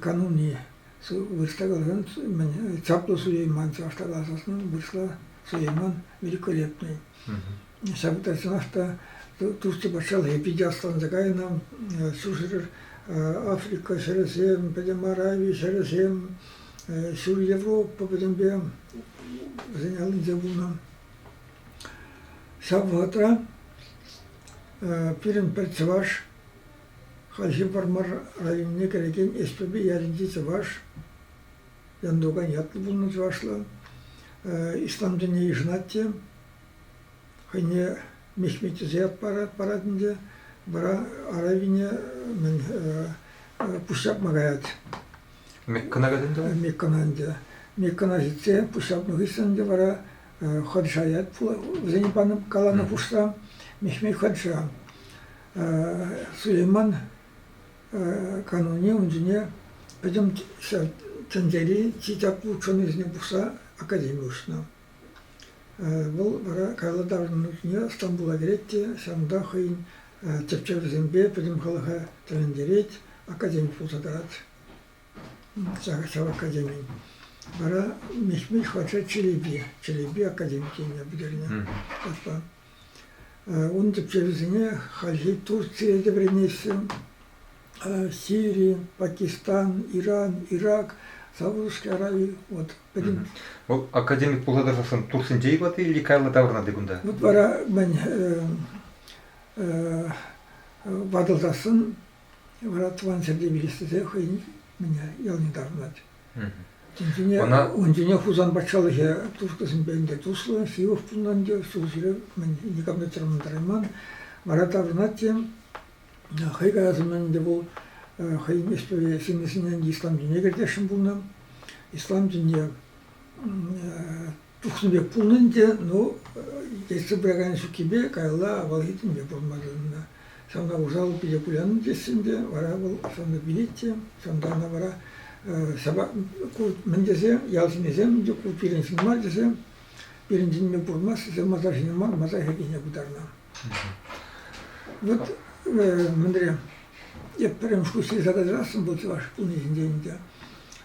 кануни вырӑсла каласан чаплӑ Сулейман чӑвашла каласан вырӑсла Сулейман великолепный. Ҫав тӑрсанах та Турци патшалӑхӗ питӗ ӑсланса кайнӑ, ҫурҫӗр Африка ҫӗрӗсем, пӗтӗм Арави ҫӗрӗсем, ҫул Европа пӗтӗмпе вӗсен аллинче пулнӑ. Ҫав вӑхӑтра пирӗн пӗр чӑваш Хальхи Вӑрмар районне кӗрекен Эступи ялӗнчи чӑваш, Янтукан ятлӑ пулнӑ чӑвашла, ислам тӗнне йышӑнать те. Хӑйне мехметӗсе парать, парать ӗнтӗ. Вара аравине мӗн пуҫҫапма каять. Меккӑна каять ӗнтӗ? Меккӑна ӗнтӗ. Меккӑна ҫитсе пуҫҫапнӑ хыҫҫӑн ӗнтӗ вара хадша ять. Вӗсене панӑ, каланӑ хушса Мехмет хадша. Сулейман канунне ун чухне пӗтӗм тӗнчери чи чаплӑ ученӑйсене пухса академи уҫнӑ. Вӑл вара каялла таврӑннӑ Стамбула кӗрет те ҫавӑнта хӑйӗн тӗпчевӗсемпе пӗтӗм халӑха тӗлӗнтерет, академи пулса тӑрать ҫав академин. Вара Мехмед патша Челепи, Челепи академи тенӗ пӗтернӗ. Ун тӗпчевӗсене хальхи Турцие те вӗренеҫҫӗ, Сири, Пакистан, Иран, Ирак, Саудовская Арави. Вот пӗтӗм. Вӑл академик пулса тӑрсассӑн Турсенче-и ватти или каялла таврӑнать кунта? Вот вара мӗн ватӑлсассӑн вара тӑван ҫӗрте вилес тесе хӑйӗн ялне таврӑнать. Ун чухне Хусан патшалӑхӗ туркӑсемпе ӗнтӗ туслӑ, ҫывӑх пулнӑ ӗнтӗ, ҫулҫӳрев никам та чӑрмантарайман. Вара таврӑнать хӑй калас умӗн ӗнтӗ вӑл хӑйӗн ӗҫпе ҫыннисене ислам дине кӗртесшӗн пулнӑ. Ислам дине Тухнӑ пек пулнӑ ӗнтӗ, ну, тетсе пыракан ҫуккипе каялла авалхи тӗнпе пӑхма тытӑннӑ. Ҫавна усал питӗ куляннӑ теҫҫӗ ӗнтӗ, вара вӑл ҫавна вилет те, ҫавӑнта ӑна вара сӑпак мӗн тесе, ял ҫыннисем ӗнтӗ ку пирӗн ҫын мар тесе, пирӗн тӗнпе пурӑнмасть тесе масар ҫине мар, масар хӗркине пытарнӑ. Вот мӗнре, эп пӗрремӗш куҫри задать расӑм был чӑваш пулни ҫинчен ӗнтӗ.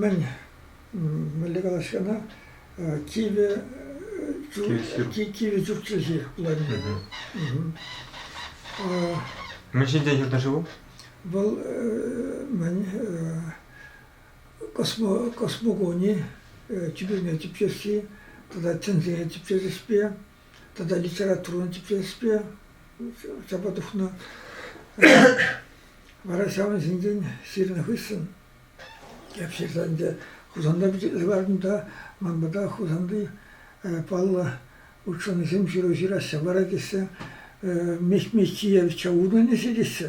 мӗн, мӗнле калаҫҫӗ ӑна, кивӗ кивӗ чукчӗҫи пулать. Мӗн ҫинчен ҫырнӑ ши вӑл? Вӑл мӗн космо, космогони, тӳпене типчесси тата тӗнсене типчес ӗҫпе тата литературӑн тӗпчевҫӗпе чапа тухнӑ. Вара ҫавӑн ҫинчен ҫырнӑ хыҫҫӑн эп ҫырса ӗнтӗ Хусанта пичетлесе кӑлартӑм та ман пата Хусанти паллӑ ученӑйсем ҫыру ҫыраҫҫӗ. Вара тесе Мехмет Чиевича удалӗҫе теҫҫӗ.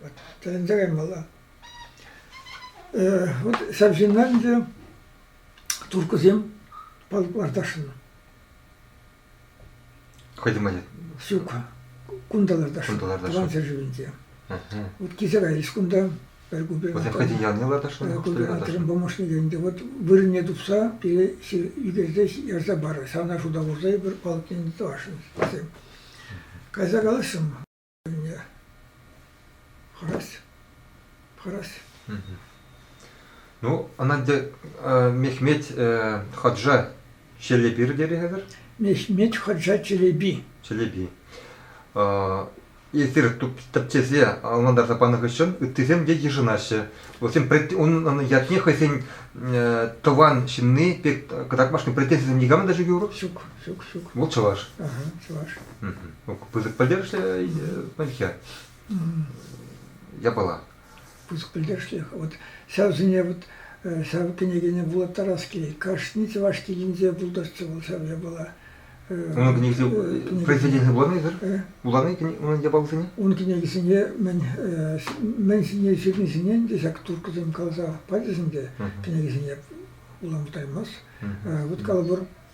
Вот тӗлӗнтерем вӑла. Э, вот ҫав ҫынна ӗнтӗ туркӑсем палӑклар ташнӑ. Хӑйдем мӗнле? Ҫук, кунталар ташнӑ. Кунталар ташнӑ. Тӑван ҫӗршывӗнче. Вот килсе кайрӗҫ кунта. Пӗр купе. Вӑтем хӑйден ялне ларташнӑ? Купе помощник ӗнтӗ. Вот вырӑнне тупса пире ӳкерсе ярса парӑр. Ҫавна шута хурса эпир палӑкне тӑвасшӑн. Кайса калаҫрӑм. Анне хӑрать, хӑрать. Ну, Ананде Мехмет Хаджа Челепир тери хәзер? Мехмет Хаджа Челеби. Челеби. Эсир тӗпчесе ӑнлантарса панӑ хыҫҫӑн ыттисем те йышӑнаҫҫӗ. Вӗсем унӑн ятне хӑйсен тӑван ҫынни пек кӑтартмашкӑн претензисем никамӑн та ҫук юр? Ҫук. Ҫук, ҫук. Вӑл чӑваш. Ага, чӑваш. Пысӑк пӗлтерӗшлӗ пӗлхе. Япала. Пысӑк пӗлтерӗшлӗ. Вот ҫавсене вот ҫав кӗнекене вулаттарас килет. Кашни чӑваш килӗнче пултӑрччӗ вӑл ҫав япала. Унӑн кӗнекисем произведенийӗ вуланисӑр? Вулани унӑн япалисене? Ун кӗнекисене мӗн мӗн ҫине ҫырнисене ӗнтӗ ҫак туркӑсем каласа пачӗҫ ӗнтӗ. Кӗнекесене вулама таймасть. Вот калӑпӑр,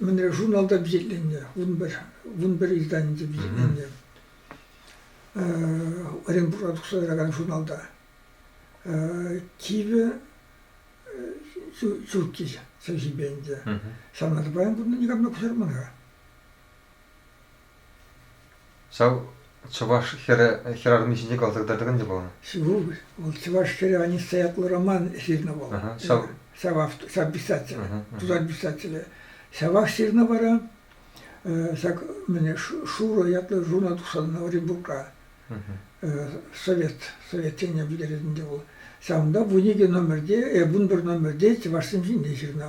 Мӗнре журналта пичетленнӗ, вун пӗр, вун пӗр изданинче пичетленнӗ. Оренбурга тухса тӑракан журналта. Типӗ ҫукки ҫемҫипе ӗнтӗ. Саната паян курнӑ никам та куҫарман-ха. Ҫав чӑваш хӗрарӑмӗ ҫинче каласа кӑтартакан те пулнӑ. Вӑл чӑваш хӗрӗ Аниста ятлӑ роман ҫырнӑ вӑл. Ҫав писатель, тутар писателӗ. Ҫавах ҫырнӑ вара ҫак Шуро ятлӑ журнал тухса Оренбургра. Совет, Совет чӗнне пӗтеретӗн те вӑл. Ҫавӑнпа вуникӗ номерте, э вун пӗр номерте чӑвашсем ҫинчен ҫырнӑ.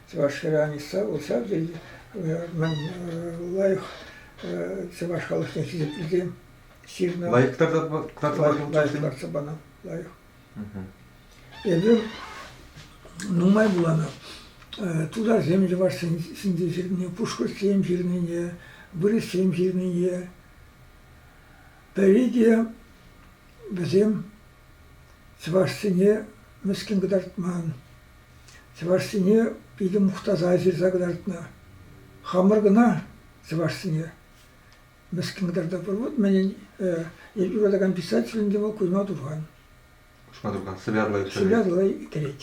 Чӑвашра Аниса вӑл ҫав тери мӗн лайӑх чӑваш халӑхне хисеплекен ҫырнӑ. Лайӑх тартса панӑ. Лайӑх. Эпир нумай вуланӑ. Тутарсем чӑвашсен ҫинче ҫырнине, пушкӑртсем ҫырнине, вырӑссем ҫырнине. Пӗри те вӗсем Чӑвашсене мӗскӗн кӑтартман, чӑвашсене питӗ мухтаса ҫырса кӑтартнӑ. Хамӑр кӑна чӑвашсене мӗскӗн кӑтартатпӑр. Вот мӗнӗн эпир вулакан писателӗн те вӑл Кузьма Турхан. Кузьма Турхан сывярлӑ иккен. Сывярлӑ иккӗрет.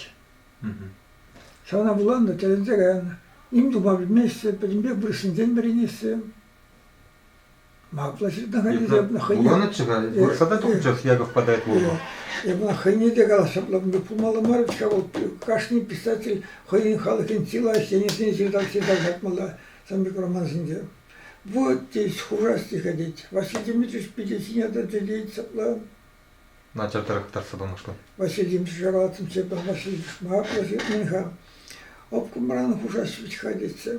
Ҫавна вуланӑ, тӗлӗнсе каянӑ. Ним тума пӗлмеҫҫӗ, пӗтӗмпех вырӑссенчен вӗренеҫҫӗ. Вуланӑччӗ-ха, вырӑсата тухӑнччӑр Яков Подайкова. Эпӗ хӑйне те калаҫаплӑ пулмалла мар ҫав, вӑл кашни писатель хӑйӗн халӑхӗн чи лайӑх енӗсене ҫыртасси картмалла замбик романсенче. Вот здесь хура стиха тет. Василий Дмитриевич питӗ ҫине тӑчӗ тет ҫапла. Начар тарӑхтарса памашкӑн. Василий Дмитриевич варатӑмччӗ, Василий Шмаплӑ ҫыртмен-ха. Обкомран хушаҫ вӗт-ха тетчӗ.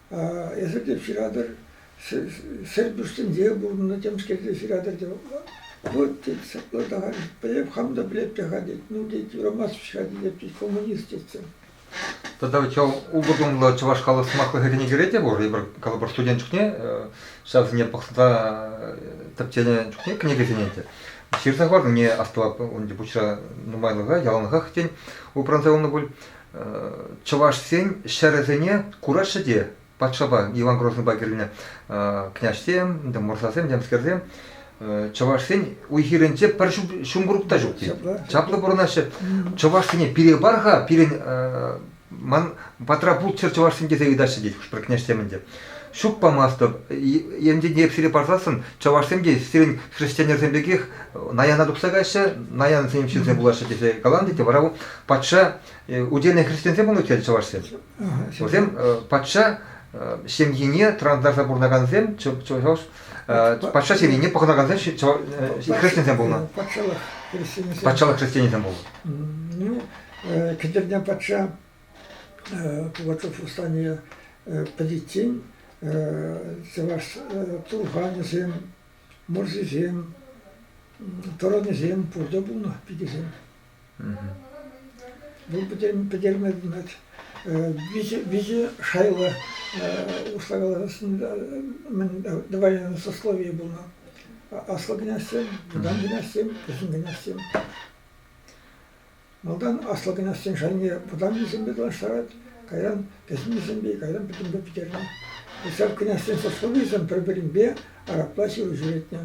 Эсир те ҫыратӑр, Серпӳҫсенче пурӑннӑ темскер те ҫыратӑр тет. Вӑт тет, саплӑртаран, пӗлеп, хам та пӗлеп-тӗ-ха тет, ну тет, юрамасть-ха тет, тет, коммунист тетсем. Тата ведь ултӑ тумлӑ чӑваш халӑх сӑмахлӑхӗсене кӗре те пур. Эпир, калӑпӑр, студент чухне ҫавсене пӑхса тӗпченӗ чухне кӗнекесене те ҫырса хӑварнине астӑвап. Унти пуҫра нумайлӑха, яланлӑхах, тен, упранса юлнӑ пуль. чӑвашсен ҫӗрӗсене кураҫҫӗ те патшапа Иван Грозныйпа килнӗ княҫсем, мӑрсасем, темскерсем чӑвашсен уй-хирӗнче пӗр ҫумкурӑк та ҫук. Чаплӑ, чаплӑ пурӑнаҫҫӗ. Чӑвашсене пире пар-ха, пирӗн ман патра пулччӑр чӑвашсем тесе ыйтаҫҫӗ тет хӑш-пӗр княҫсем ӗнтӗ. Ҫук памастӑп, енчен эп сире парсассӑн, чӑвашсем те сирӗн хресченӗрсем пекех наяна тухса каҫҫӗ, наянсем ҫынсем пулаҫҫӗ тесе каланӑ тет, вара вӑл патша удельнӑй христиансем пулнӑ иккен чӑвашсем. Вӗсем патша ҫемйине транслятса пурӑнакансем чӑваш патша ҫемйине пӑхӑнакансем христиансем пулнӑ. Патшалӑх христианӗсем пулнӑ. Ну, кӗтерне патша пулатов восстание пӗтиччен чӑваш турханӗсем, мӑрсисем, тӑранӗсем пурте пулнӑ пикесем. Вӑл пӗтерме вилет. Виҫӗ шайлӑ услакаланӑ мӗн тӑвайӑн сословие пулнӑ. Аслӑ князьсем, вӑтам князьсем, кӗҫӗн князьсем. Малтан аслӑ князьсен шайне вӑтаммисемпе танлаштарать, кайран кӗҫӗннисемпе, кайран пӗтӗмпе пӗтернӗ. Ҫав князьсен сословийӗсем пӗр-пӗринпе арабла ҫыру ҫӳретнӗ.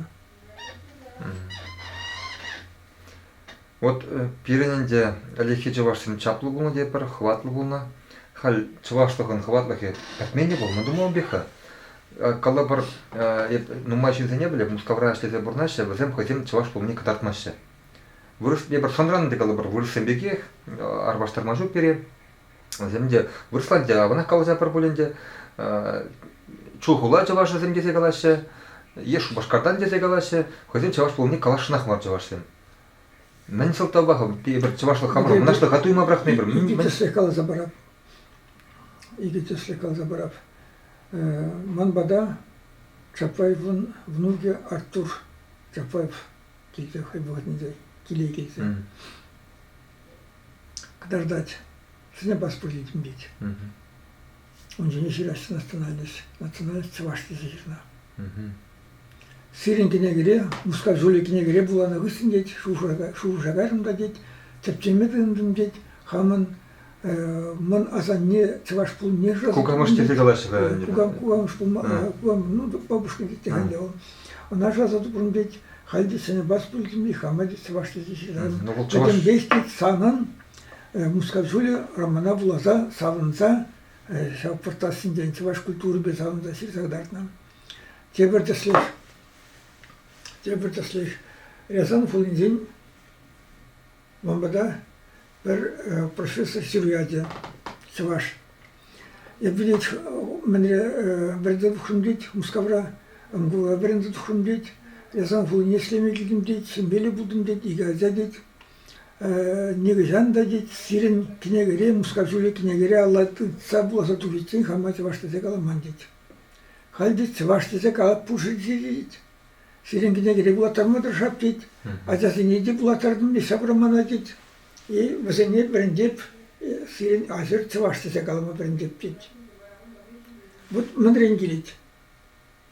Вот пирӗн ӗнтӗ ӗлӗкхи чӑвашсен чаплӑ пулнӑ тетпӗр, хӑватлӑ пулнӑ. Халь чӑвашлӑхӑн хӑватлӑхӗ пӗтмен те пуль, мӑн тумлам пек-ха. Калӑпӑр, эп нумай ҫынсене пӗлӗп, Мускавра ӗҫлесе пурӑнаҫҫӗ, вӗсем хӑйсем чӑваш пулнине кӑтартмаҫҫӗ. Вырӑс, эпир шӑнран ӗнтӗ калӑпӑр, вырӑссем пекех, арпаштарма ҫук пире. Вӗсем те вырӑсланча аванах каласа пӗр пулин те чулхула чӑвашӗсем тесе калаҫҫӗ, е Шупашкартан тесе калаҫҫӗ, хӑйсем чӑваш пулни калаҫнах мар чӑвашсем. Мӗн сӑлтавпа эпир чӑвашлӑх хамӑр мӑнаҫлӑха туйма пӑрахнӑ эпир? Икӗ тӗслӗх каласа парап. Икӗ тӗслӗх каласа парап. Ман пата Чапаевӑн внукӗ Артур Чапаев килте хӑй вӑхӑтӗнче киле килсе кӑтартать. Сине паспорт тӳлет. Ун ҫине ҫыраҫҫӗ национальность. Национальность чӑваш тесе ҫырнӑ. Сирӗн кӗнекере, Мускав Жюли кӗнекере вуланӑ хыҫҫӑн тет, шухӑша кайрӑм та тет, тӗпчеме тытӑнтӑм тет, хамӑн Мӑн асанне чӑваш пулнишӗн. Кукамӑш тесе калаҫҫӗ-ха. Кукам, кукамӑш пулма, кукамӑш, ну, папушкин тет те халӗ вӑл. Ӑна шасатупрун тет, халь тет сене бас пултӑм, хама тет чӑваш тесе ҫырам. Пӗтӗмпех тет санӑн Мускав ҫулӗ романа вуласа савӑнса ҫав пӑртассинчен чӑваш культурипе савӑнса ҫырса кӑтартнӑ. Тепӗр тӗслӗх, тепӗр тӗслӗх Рязан хулинчен Мамӑка пӗр профессор ячӗ чӑваш. Эп вилет мӗнре вӗрентетӗп тет Мускавра, Ангола вӗрентетӗп тет, ясам хулине ӗҫлеме килтӗм тет, ҫемьеллӗ пултӑм тет, икӗ ача тет. Нихӑҫан та тет сирӗн кӗнекере, Мускав ҫулӗ кӗнекере алла тытса вуласа тухиччен хама чӑваш тесе каламан тет. Халь те чӑваш тесе калап пур-ши тет. Сирӗн кӗнеке регулаторма тӑрӑшап, тет. Ачасене те пулаттартӑм, те ҫапрӑм мана, тет. И вӗсене вӗрентеп, сирӗн аҫӑр чӑваш тесе калама вӗрентеп, тет. Вот мӗнрен килет.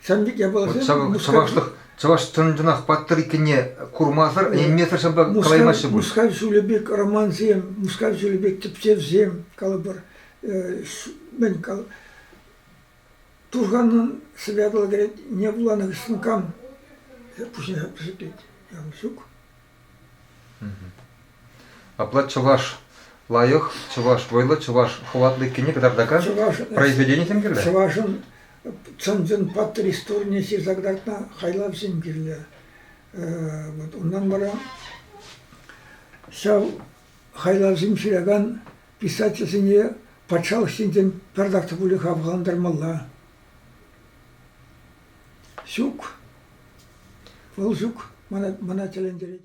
Сан пек япаласем... Вот савӑклӑх чӑваш чӑн-чӑнах паттӑр иккенне курмасӑр, ӗненмесӗр ҫапла калаймаҫҫӗ пуль. Мускав ҫулӗ пек романсем, Мускав ҫулӗ пек тӗпчевсем, калӑпӑр, мӗн, Тусаннан сывятла кӗрет, не вуланӑ вӗҫсен кам? Пуҫне пӗсеклет. Якур ҫук. Апла чӑваш лайӑх, чӑваш вӑйлӑ, чӑваш хӑватлӑ иккенне кӑтартакан произведенисем кирлӗ? Чӑвашӑн чӑн-чӑн паттӑр историне ҫырса кӑтартнӑ хайлавсем кирлӗ. Вот унтан вара ҫав Хайлавсем ҫыракан писательсене патшалӑх ҫинчен пӗртак та пулин хавхалантармалла. Ҫук. Вӑл ҫук мана, мана тӗлӗнтерет.